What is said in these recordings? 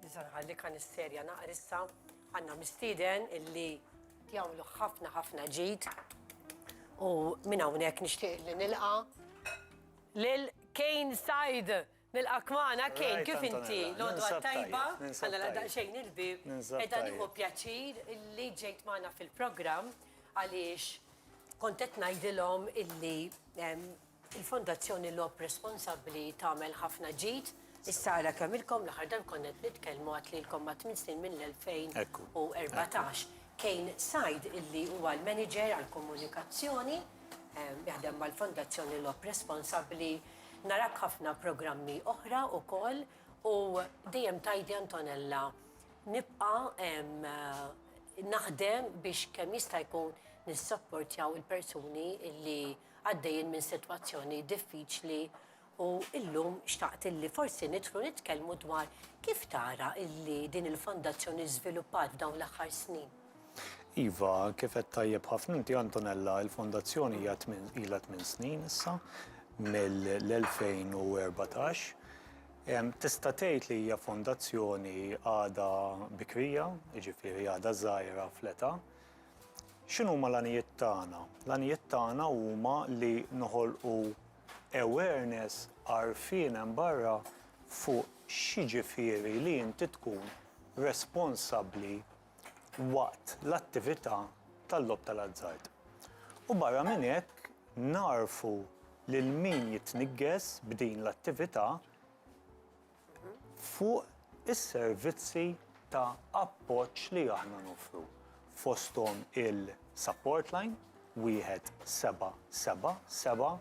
Nisa' nħalli kanisterja naqar issa. Għandna mistieden illi jagħmlu ħafna ħafna ġid u minn hawnhekk nixtieq li nilqa' lil Kane Said. Nilqak magħna Kane, kif inti? L-għodwa tajba, ħalla nagħlaq daqsxejn il-bieb. Qiegħda nieħu pjaċir illi ġejt magħna fil-programm għaliex kont qed ngħidilhom illi Il-Fondazzjoni Logħob Responsabbli tagħmel ħafna ġid. Issa ara kemm ilkom, l-aħħar darb konna qed nitkellmu għad lilkom ma' tmien snin mill-2014. Kane Said illi huwa l-Manager għall-Komunikazzjoni, jaħdem mal-Fondazzjoni Logħob Responsabbli, narak ħafna programmi oħra wkoll u dejjem tgħidi Antonella nibqa' naħdem biex kemm jista' jkun nissapportjaw il-persuni illi għaddejjin minn sitwazzjoni diffiċli u llum xtaqt illi forsi nidħlu nitkellmu dwar kif tara illi din il-fondazzjoni żviluppat f'dawn l-aħħar snin. Iva, kif qed tajjeb ħafna inti Antonella, il-fondazzjoni hija tmien ilha tmien snin issa mill-2014. Em, Tista' tgħid li hija fondazzjoni għadha bikrija, jiġifieri għadha żgħira fl-età, X'inhuma l-għanijiet tagħna? L-għanijiet tagħna huma li noħolqu awareness, għarfien hemm barra fuq x'jiġifieri li inti tkun responsabbli waqt l-attività tal-logħob tal-azzard. U barra minn hekk nagħrfu lil min jitniggess b'din l-attività fuq is-servizzi ta' appoġġ li aħna noffru, fosthom il-Support Line 1777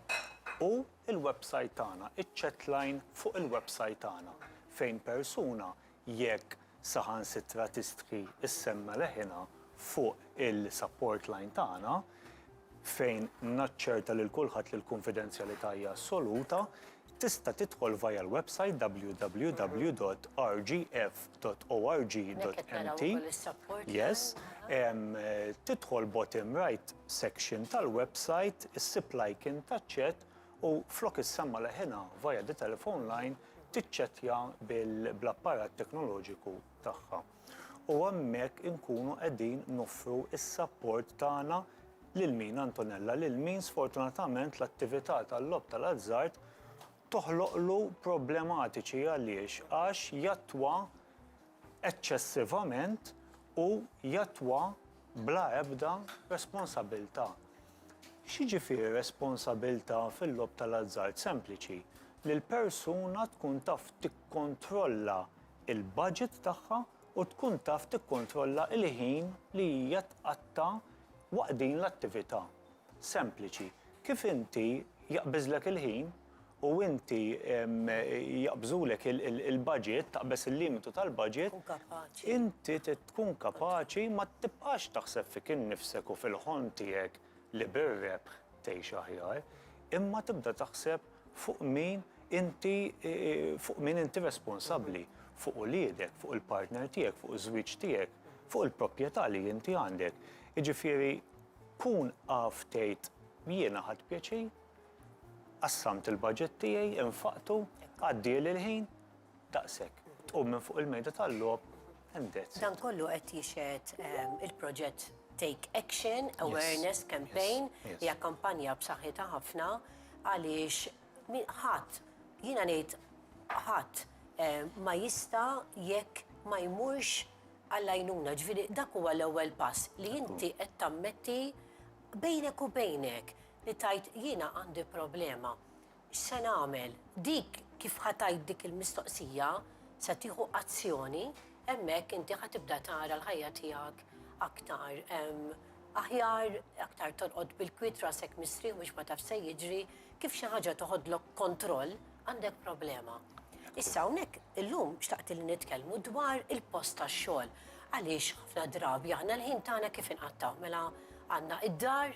u l-websajt tagħna, iċ-Chatline fuq il-websajt tagħna, fejn persuna jekk saħansitra tistħi s-semma leħinha fuq il-support line tagħna fejn naċċerta lil kulħadd li l-kunfidenzjalità hija assoluta, tista' tidħol via l-website www.rgf.org.mt, yes, tidħol bottom right section tal-website, issib l-icon taċ-chat u flok issemma' leħinha via the telephone line tiċċettja bl-apparat teknoloġiku tagħha. U hemmhekk inkunu qegħdin noffru s-sapport tagħna lil min, Antonella? Lil min sfortunatament l-attività tal-logħob tal-azzard toħloqlu problematiċi għaliex għax jattwa eċċessivament u jattwa bla ebda responsabilità. X'jiġifieri responsabilità fil-logħob tal-azzard? Sempliċi, li l-persuna tkun taf tikkontrolla l-budget tagħha u tkun taf tikkontrolla l-ħin li hija tqatta' waqt din l-attività. Sempliċi. Kif inti jaqbiżlek il-ħin, u inti jaqbżulek il-budget, taqbeż il-limitu tal-budget, inti trid tkun kapaċi ma tibqax taħseb fik innifsek u fil-ħolm tiegħek li bir-rebħ tgħix aħjar, imma tibda taħseb fuq min inti fuq min inti responsabbli, fuq uliedek, fuq il-partner tiegħek, fuq iż-żwieġ tiegħek, fuq il-proprjetà li inti għandek. Jiġifieri kun af tgħid jiena ħadt pjaċir Qassamt il-baġit tiegħi, infaqtu, għaddieli l-ħin, daqshekk. Tqum minn fuq il-mejda tal-logħob and that's it. Dan kollu qed jixhed il-proġett Take Action Awareness Campaign hija kampanja b'saħħitha ħafna għaliex ħadd jiena ngħid ħadd ma jista' jekk ma jmurx għall-għajnuna. Ġifieri dak huwa l-ewwel pass li inti qed tammetti bejnek u bejnek Li tgħid jiena għandi problema, x'se nagħmel? Dik kif ħa tgħid dik il-mistoqsija, se tieħu azzjoni, hemmhekk inti ħa tibda tara l-ħajja tiegħek aktar aħjar, aktar torqod bil-kwiet rasek mistrieħ biex ma tafx se jiġri, kif xi ħaġa toħodlok kontroll, għandek problema. Issa hawnhekk illum xtaqt li nitkellmu dwar il-post tax-xogħol. Għaliex ħafna drabi aħna l-ħin tagħna kif inqattaw mela għandna id-dar,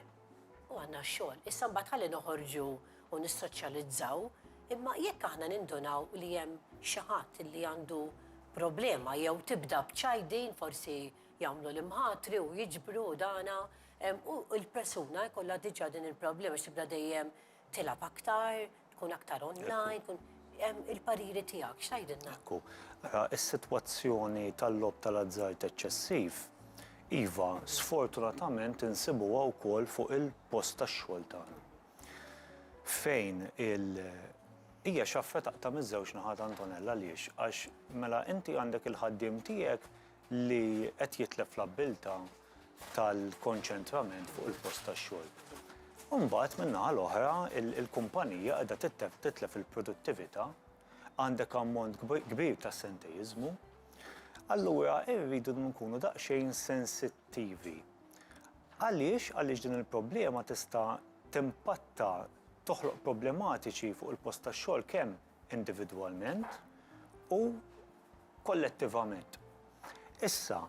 U għandna x-xogħol. Issa mbagħad ħalli noħorġu u nissoċjalizzaw, imma jekk aħna nindunaw li hemm xi ħadd li għandu problema jew tibda b'ċajdin, forsi jagħmlu l-imħatri u jiġbru u dana, u l-persuna jkollha diġà din il-problema għax tibda dejjem Tilgħab aktar, tkun aktar online, tkun il-pariri tiegħek x'tgħidilna? Ekku, ara is-sitwazzjoni tal-logħob tal-azzard eċċessiv, iva, sfortunatament insibuha wkoll fuq il-post tax-xogħol tagħna. Fejn il hija xi affa taqta' miż-żewġ naħat Antonella għaliex għax mela inti għandek il-ħaddiem tiegħek li qed jitlef l-abbiltà tal-konċentrament fuq il-post tax-xogħol. U mbagħad min-naħa l-oħra il-kumpanija qiegħda titlef il-produttività, għandek ammont kbir ta' sentejjiżmu. Allura irridu nkunu daqsxejn sensittivi. Għaliex? Għaliex din il-problema tista' timpatta, toħloq problematiċi fuq il-post tax-xogħol kemm individwalment u kollettivament. Issa,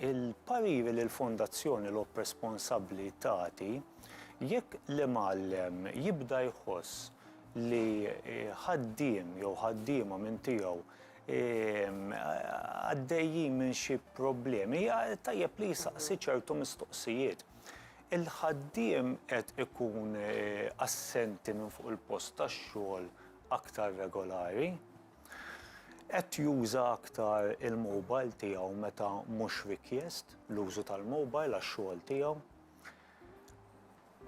il-pariri li l-Fondazzjoni Logħob Responsabbli tagħti, jekk l-imgħallem jibda jħoss li ħaddiem jew ħaddiema minn tiegħu għaddejjin minn xi problemi, tajjeb li jsaqsi ċertu mistoqsijiet. Il-ħaddiem qed ikun assenti minn fuq il-post tax-xogħol aktar regolari, qed juża aktar il-mobile tiegħu meta mhux rikjest l-użu tal-mobile għax-xogħol tiegħu,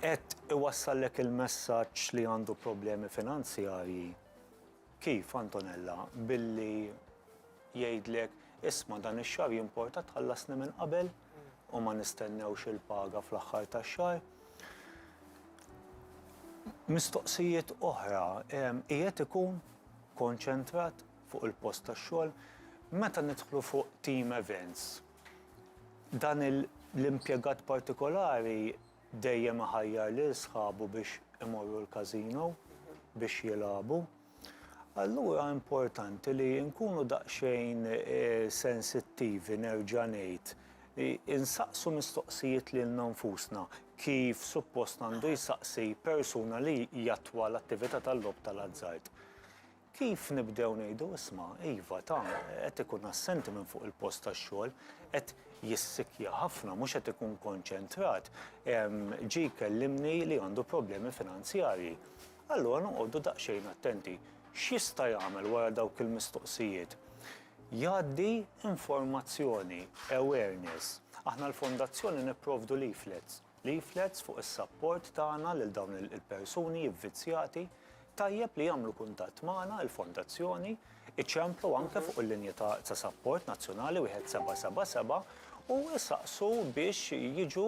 qed iwassallek il-messaġġ li għandu problemi finanzjarji. Kif, Antonella? Billi jgħidlek, isma' dan ix-xahar jimporta tħallasni minn qabel u ma nistennewx il-paga fl-aħħar tax-xahar? Mistoqsijiet oħra, qiegħed ikun konċentrat fuq il-post tax-xogħol? Meta nidħlu fuq team events, dan l-impjegat partikolari Dejjem iħajjar lil sħabu biex imorru l-casino biex jilagħbu. Allura importanti li nkunu daqsxejn sensittivi nerġa' ngħid li nsaqsu mistoqsijiet lilna nfusna kif suppost għandu jsaqsi persuna li jattwa l-attività tal-logħob tal-azzard. Kif nibdew ngħidu, isma', iva, ta, qed ikun assenti minn fuq il-post tax-xogħol, qed jissikja ħafna, mhux qed ikun konċentrat, ġie jkellimni li għandu problemi finanzjarji. Allura noqogħdu daqsxejn attenti. X'jista' jagħmel wara dawk il-mistoqsijiet? Jgħaddi informazzjoni, awareness. Aħna l-Fondazzjoni nipprovdu leaflets. leaflets fuq is-sapport tagħna lil dawn il-persuni vvizzjati, tajjeb li jagħmlu kuntatt magħna, il-Fondazzjoni, iċemplu anke fuq il-linja ta' sapport nazzjonali 1777 u isaqsu biex jiġu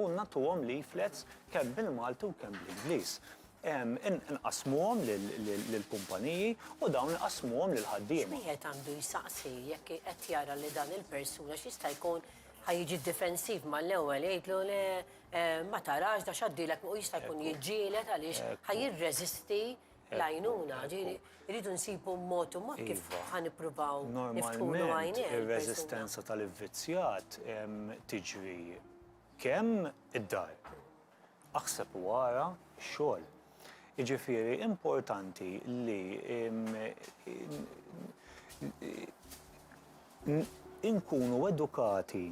u nagħtuhom leaflets kemm bil-Malti u kemm bl-Ingliż. Inqassmuhom lill-kumpaniji u dawn iqassmuhom lill-ħaddiema. X'wieħed għandu jsaqsi jekk qed jara li dan il-persuna x'jista' jkun Ħa jiġi difensiv mal-ewwel jgħidlu le ma tarax da x'għaddilek u jista' jkun jiġġieled għaliex ħa jirreżisti l-għajnuna, ġiri, rridu nsibu mod u mod kif iva. ħan ippruvaw niftħulu għajni. Ir-reżistenza tal-ivvizzjat tiġri kemm id-dar Aħseb u ara x-xogħol. Jiġifieri importanti li nkunu edukati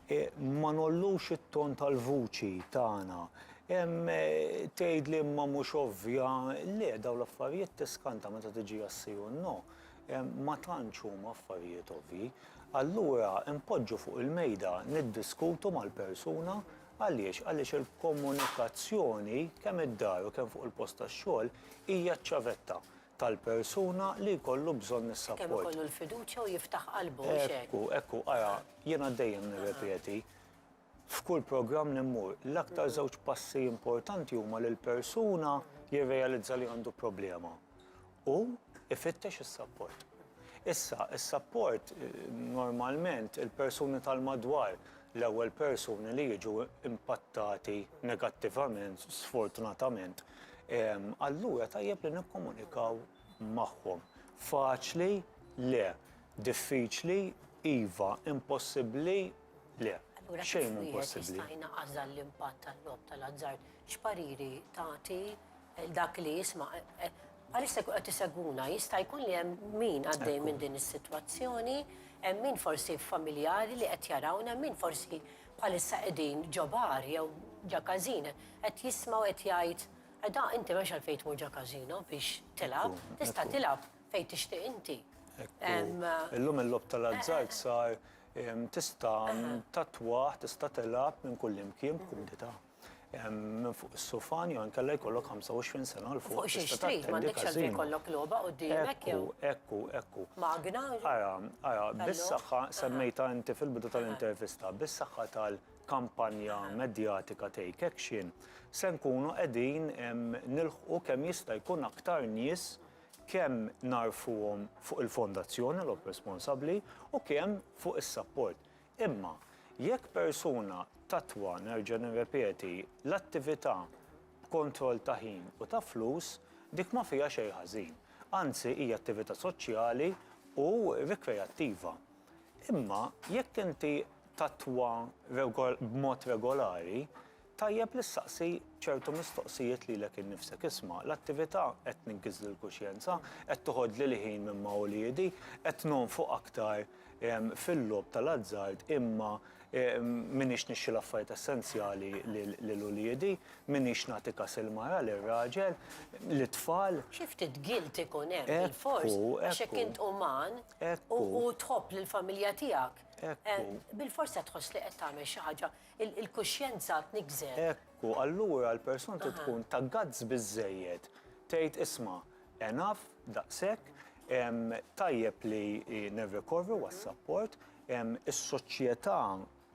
ma ngħollux it-ton tal-vuċi tagħna. Tgħidli imma mhux ovvja, le dawn l-affarijiet tiskanta meta tiġi għas-si u n-no. Ma tantx huma affarijiet ovvji. Allura npoġġu fuq il-mejda, niddiskutu mal-persuna Għaliex? Għaliex il-komunikazzjoni kemm id-dar u kemm fuq il-post tax-xogħol hija ċ-ċavetta tal-persuna li jkollu bżonn is-sapport. Kemm ikollu l-fiduċja u jiftaħ qalbu, mhux hekk? Ekku, ekku, ara, jiena dejjem nirrepeti, f'kull programm li mmur, l-aktar żewġ passi importanti huma li l-persuna jirrealizza li għandu problema Hu jfittex is-sapport. Issa, is-sapport, normalment, il-persuni tal-madwar, l-ewwel persuni li jiġu impattati negattivament, sfortunatament, allura tajjeb li nikkomunikaw magħhom. Faċli, le. Diffiċli, iva. Impossibbli, le. Xejn mhu impossibbli. Allura kif wieħed jista' jnaqqas dan l-impatt tal-logħob tal-azzard? X'pariri tagħti? Dak li jisma', bħalissa jkun qed isegwuna, jista' jkun li hemm min għaddej minn din is-sitwazzjoni, hemm min forsi familjari li qed jarawna, hemm min forsi bħalissa qegħdin ġo bar jew ġa każin qed jisma' u qed jgħid, Edha, inti m'hemmx għalfejn tmur ġo każino biex tilgħab, tista' tilgħab fejn tixtieq inti. Illum il-logħob tal-azzard sar tista' tattwah, tista' tilgħab minn kullimkien b'kumdità. minn fuq is-sufan jew inkella jkollok 25 sena l fuq. Fuq xiex trid, m'għandekx għalfejn jkollok logħba quddiemek jew. Ekku, ekku, ekku. Magna. Ara, ara, bis-saħħa semmejtha inti fil-bidu tal-intervista, bis-saħħa tal-kampanja medjatika Take Action, se nkunu qegħdin nilħqu kemm jista' jkun aktar nies kemm nagħrfuhom fuq il-fondazzjoni, l-opp responsabbli, u kemm fuq is-sapport. Imma, jekk persuna tattwa, nerġa' nirrepeti, l-attività b'kontroll ta' ħin u ta' flus, dik ma fiha xejn ħażin. Anzi, hija attività soċjali u rikreattiva. Imma, jekk inti tattwa b'mod regolari, Tajjeb li ssaqsi ċertu mistoqsijiet lilek innifsek, isma', l-attività qed tniggżli l-kuxjenza, qed toħodli l-ħin minn ma' uliedi, qed nonfoq aktar fil-logħob tal-azzard imma m'iniex nixxi l-affarijiet essenzjali lil uliedi, m'iniex nagħti kas il-mara, lir-raġel, lit-tfal. Xi ftit guilt ikun hemm bilfors għax jekk int uman u tħobb lill-familja tiegħek, bilfors se tħoss li qed tagħmel xi ħaġa. Il-kuxjenza tniggżer. Hekk hu, allura l-persuna trid tkun ta' guts biżżejjed tgħid isma', enough, daqshekk, tajjeb li nirrikorru għas-sapport, is-soċjetà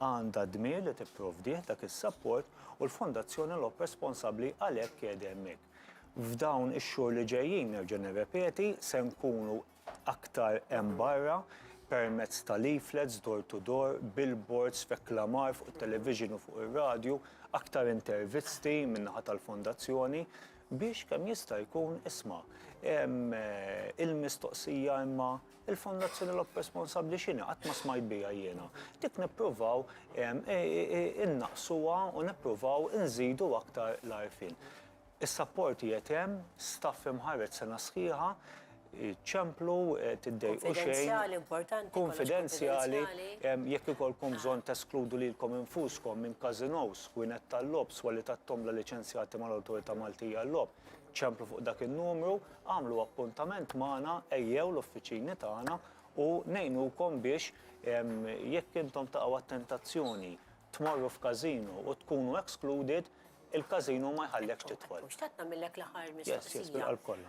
għandha d-dmir li tipprovdih dak is-sapport u l-Fondazzjoni Lok responsabbli għalhekk qiegħda hemmhekk. F'dawn ix-xhur li ġejjin, nerġa' nirrepeti, se nkunu aktar hemm barra, permezz ta' leaflets door to door, billboards, reklamar fuq it-television u fuq ir-radju, aktar intervisti min-naħa tal-Fondazzjoni, biex kemm jista' jkun, isma', il-mistoqsija imma il-Fondazzjoni Lopez responsabbli x'inhi? Qatt ma smajt biha jiena. Dik nippruvaw innaqqsuha u nippruvaw inżidu aktar l-għarfien. Is-sapporti qed hemm, staff imħarreġ sena sħiħa, ċemplu, tiddejqu xejn. Kunfidenzjali, importanti, kollox kunfidenzjali. Kunfidenzjali, jekk ikollkom bżonn teskludu lilkom infuskom minn każinòs, kwinet tal-logħob, swali tat-tombla liċenzjati mal-Awtorità Maltija għal-Logħob, ċemplu fuq dak in-numru, agħmlu appuntament magħna, ejjew l-uffiċini tagħna u ngħinukom biex jekk intom taqgħu għat-tentazzjoni tmorru f'każino u tkunu excluded, Il-każino ma jħallekx tidħol. U xtaqt nagħmillek l-aħħar mistoqsija.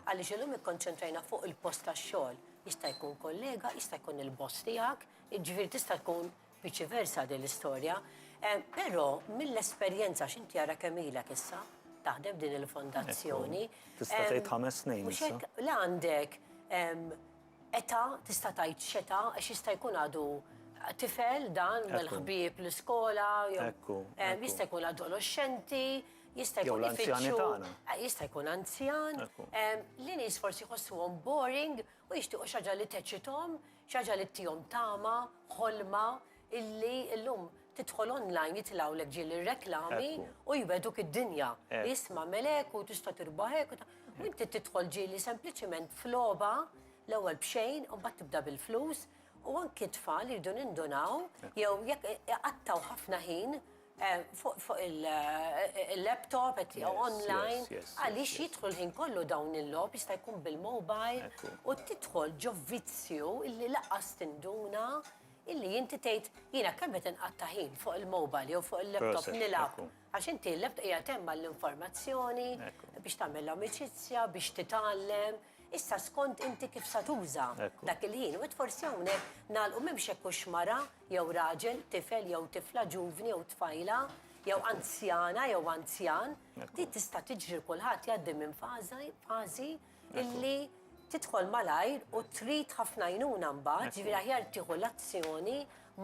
Għaliex illum ikkonċentrajna fuq il-post tax-xogħol. Jista' jkun kollega, jista' jkun il-boss tiegħek, jiġifieri tista' tkun viċi versa din l-istorja. Però mill-esperjenza x'inti ara kemm ilek issa taħdem f'din il-fondazzjoni. Tista' tgħid ħames snin. Mhux hekk, la għandek Età, tista' tgħid x'età għax jista' jkun għadu tifel dan mal-ħbieb l-iskola jew Ekku. Ekku. Jista' jkun adoloxxenti, jista' jkun ifittxu. Jew l-anzjani tagħna. Jista' jkun anzjan. Ekku. Li nies forsi jħossuhom boring u jixtiequ xi ħaġa li teċċithom, xi ħaġa li ttihom tama, ħolma, illi illum tidħol online jitilgħulek ġieli r-reklami u jwegħduk id-dinja. Isma' għamilek u tista' tirbaħ hekk u ta. U inti tidħol ġieli sempliċiment f'logħba l-ewwel b'xejn u mbagħad tibda bil-flus u anki t-tfal iridu nindunaw jew jekk iqattgħu ħafna ħin fuq il-laptop qed jew online għaliex jidħlu l-ħin kollu dawn il-logħob jista' jkun bil-mobile u tidħol ġo vizzju illi lanqas tinduna Illi inti tgħid, jiena kemm qed inqatta' ħin fuq il-mobile jew fuq il-laptop nilgħab, għax inti l-laptop qiegħed hemm għall-informazzjoni, biex tagħmel amicizzja, biex titgħallem, issa skont inti kif sa tuża dak il-ħin. U forsi hawnhekk nagħlqu m'hemmx hekk hux mara jew raġel, tifel jew tifla, ġuvni jew tfajla, jew anzjana jew anzjan, din tista' tiġri kulħadd jgħaddi minn fażi, illi tidħol malajr u trid ħafna jnuna mbagħad, ġifieri aħjar tieħu l-azzjoni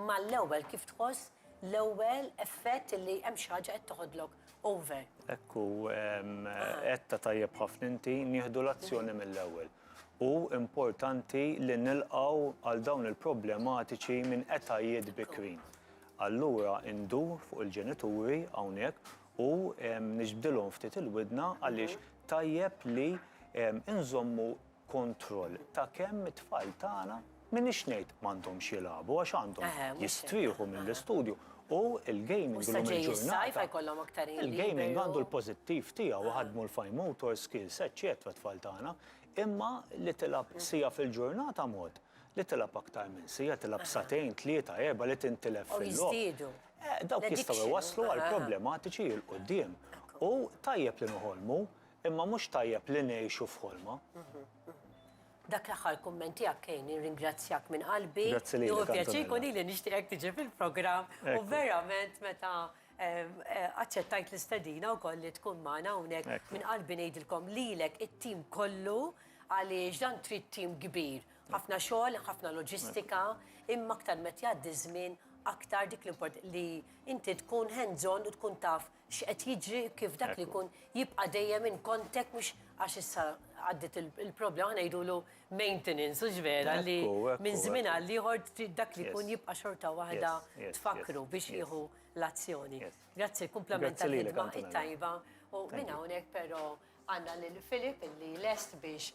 mal-ewwel kif tħoss l-ewwel effett li hemm xi ħaġa qed toħodlok over. Ekku qed tajjeb ħafna inti nieħdu l-azzjoni mill-ewwel. U importanti li nilqaw għal dawn il-problematiċi minn etajiet bikrin. Allura indur fuq il-ġenituri hawnhekk u niġbdilhom ftit il-widna għaliex tajjeb li nżommu kontroll ta' kemm it-tfal tagħna m'iniex ngħid m'għandhomx jilagħbu għax għandhom jistrieħu mill-istudju u l-gaming illum il-ġurnata il-gaming għandu l-pożittiv tiegħu iħaddmu l-fine motor skills eċċetera t-tfal tagħna imma li tilgħab siegħa fil-ġurnata mod li tilgħab aktar minn siegħa tilgħab sagħtejn tlieta erba' li tintilef fil-logħob. Dawk jistgħu jwasslu għal problematiċi 'l quddiem. U tajjeb li noħolmu, imma mhux tajjeb li ngħixu f'ħolma. Dak l-aħħar kumment tiegħek Kane, nirringrazzjak minn qalbi. Grazzi lilek. Hu pjaċir jkun lili nixtieqek tiġi fil-programm u verament meta aċċettajt l-istedina wkoll li tkun magħna hawnhekk minn qalbi ngħidilkom lilek it-tim kollu għaliex dan trid tim kbir. Ħafna xogħol, ħafna loġistika, imma aktar meta jgħaddi ż-żmien aktar dik li inti tkun hands on u tkun taf x'qed jiġri kif dak li jkun jibqa' dejjem in contact mhux għax issa għaddiet il-problema ngħidulu maintenance hux vera li minn żmien għal ieħor dak li jkun jibqa' xorta waħda tfakkru biex jieħu l-azzjoni. Grazzi, kumplament tal-ħidma it-tajba u minn hawnhekk però għandna lil Philip li lest biex